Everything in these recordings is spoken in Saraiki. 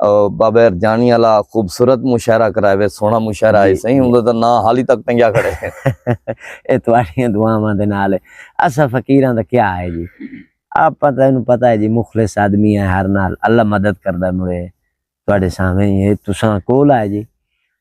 بابیر جانی والا خوبصورت مشاعرہ کرائے وے سونا مشاعرہ آئے سہی ہوں تو نہ حالی تک تنگیا کھڑے اے تواریاں دعاواں دے نال اسا فقیراں دا کیا ہے جی آپ پتہ انہوں پتہ ہے جی مخلص آدمی ہے ہر نال اللہ مدد کردا مڑے تواڈے سامنے ہی ہے تساں کول آئے جی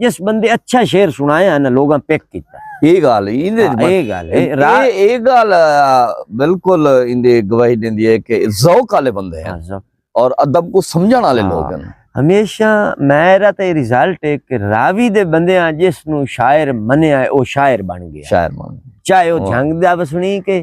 جس بندے اچھا شعر سنایا ہے نا لوگاں پیک کیتا یہ گال یہ گال یہ گال بالکل اندے گواہی دیندی ہے کہ ذوق والے بندے ہیں ہاں، اور ادب کو سمجھن والے ہاں، لوگ ہیں ہمیشہ میرا تے ریزلٹ ہے کہ راوی دے بندے ہیں جس نو شاعر منیا ہے او شاعر بن گیا شاعر بن چاہے او جھنگ دا بسنی کہ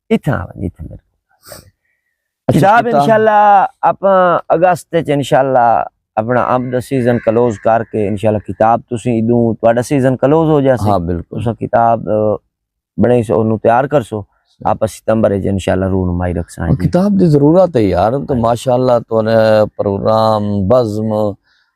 اتھاں آ ونجے اتھاں میرے کول اچھا، کتاب کتاب۔ انشاءاللہ اپاں اگست وچ انشاءاللہ اپنا امب دا سیزن کلوز کر کے انشاءاللہ کتاب تسیں ادوں تہاڈا سیزن کلوز ہو جاسی ہاں بالکل تساں کتاب اه، بنڑائی سو اونوں تیار کرسو آپا ستمبر وچ انشاءاللہ رونمائی رکھساں ہاں، جی کتاب دی ضرورت ہے یار تو ماشاءاللہ تو نے پروگرام بزم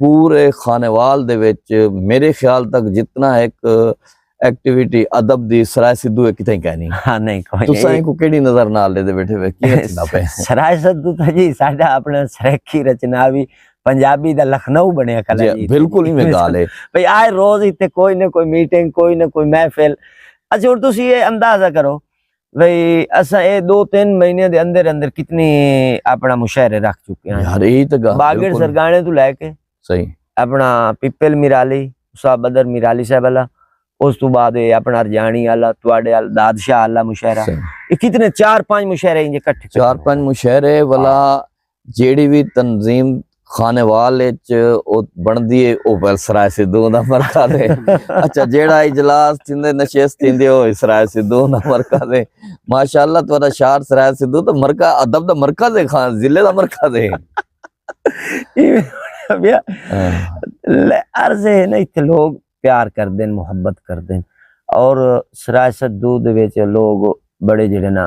پورے خانیوال دے وچ میرے خیال تک جتنا ایک ایکٹیویٹی ادب دی سرائے سدھو ہے کتھے کہیں نہیں ہاں نہیں کوئی تساں کو کیڑی نظر نال لے دے بیٹھے ہوئے کی رچنا پہ سرائے سدھو تھا جی ساڈا اپنا سرکی رچنا بھی پنجابی دا لکھنؤ بنیا کلا جی, جی، بالکل ہی میں گال ہے بھئی آئے روز ہی تے کوئی نہ کوئی میٹنگ کوئی نہ کوئی محفل اچھا اور تسی یہ اندازہ کرو بھئی اساں اے دو تین مہینے دے اندر اندر کتنی اپنا مشاعرے رکھ چکے ہیں یار اے تے گل باگر سرگانے تو لے کے صحیح اپنا پپل میرالی صاحب بدر میرالی صاحب والا اس تو بعد اے اپنا ارجانی والا تواڈے ال دادشاہ والا مشاعرہ اے کتنے چار پانچ مشاعرے انج اکٹھے چار پانچ مشاعرے والا جیڑی وی تنظیم خانوال اچ او بندی اے او ویلسرائے سدھو دا مرکز اے اچھا جیڑا اجلاس تھیندے نشست تھیندی او اسرائے سدھو دا مرکز اے ماشاءاللہ تہاڈا شہر سرائے سدھو دا مرکز ادب دا مرکز اے خان ضلع دا مرکز اے عرض اے نا ایتھے لوگ پیار کردے محبت کردے اور سرائے سدھو دے وچ لوگ بڑے جیڑے نا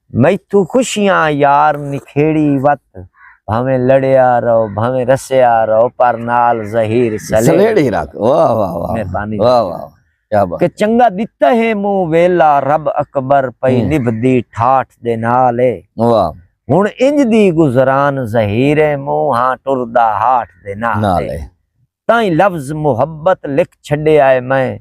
میتھوں خوشیاں یار نکھیڑی وت بھاویں لڑیا رہو بھاویں رسیا رہو پر نال ظہیر سلیڑی رکھ واہ واہ واہ مہربانی واہ واہ کیا بات کہ چنگا دتا ہے مو ویلا رب اکبر پئی نبھدی ٹھاٹھ دے نال اے واہ ہن انج دی گزران ظہیر مو ہاں ٹردا ہاٹھ دے نال اے تائیں لفظ محبت لکھ چھڈیا اے میں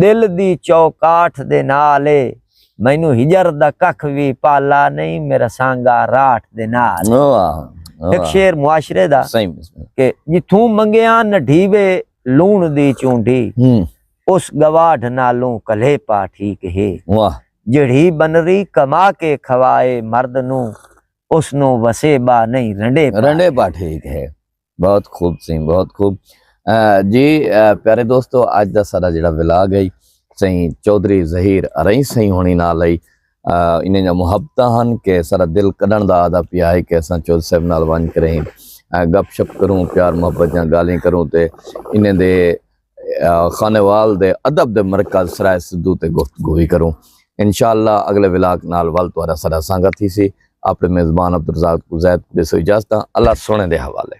دل دی چوکاٹھ دے نال اے مینوں ہجر دا ککھ وی پالا نہیں میرا سانگا راٹھ دے نال ایک شعر معاشرے دا کہ جتھوں منگیاں نہ ڈھیوے لون دی چونڈی اس گواڈھ نالوں کلے پا ٹھیک ہے جڑھی بنری کما کے کھوائے مرد نو اس نو وسے با نہیں رنڈے رنڈے پا ٹھیک ہے بہت خوب سائیں بہت خوب جی پیارے دوستو اج دا سارا جڑا ولاگ ہے سائیں چودھری ظہیر ارئی سائیں ہونی نال ہے انہیں جا محبتہ ہن کہ سارا دل کڈن دا آدھا پیا ہے کہ اساں چودھری صاحب نال ونج کریں گپ شپ کروں پیار محبت جاں گالیں کروں تے انہیں دے خانوال دے ادب دے مرکز سرائے سدھو تے گفتگو بھی کروں انشاءاللہ اگلے ولاک نال ول تو سرا سانگا تھی سی اپنے میزبان عبدالرزاق کو زید کو دے سو اجازتاں اللہ سونے دے حوالے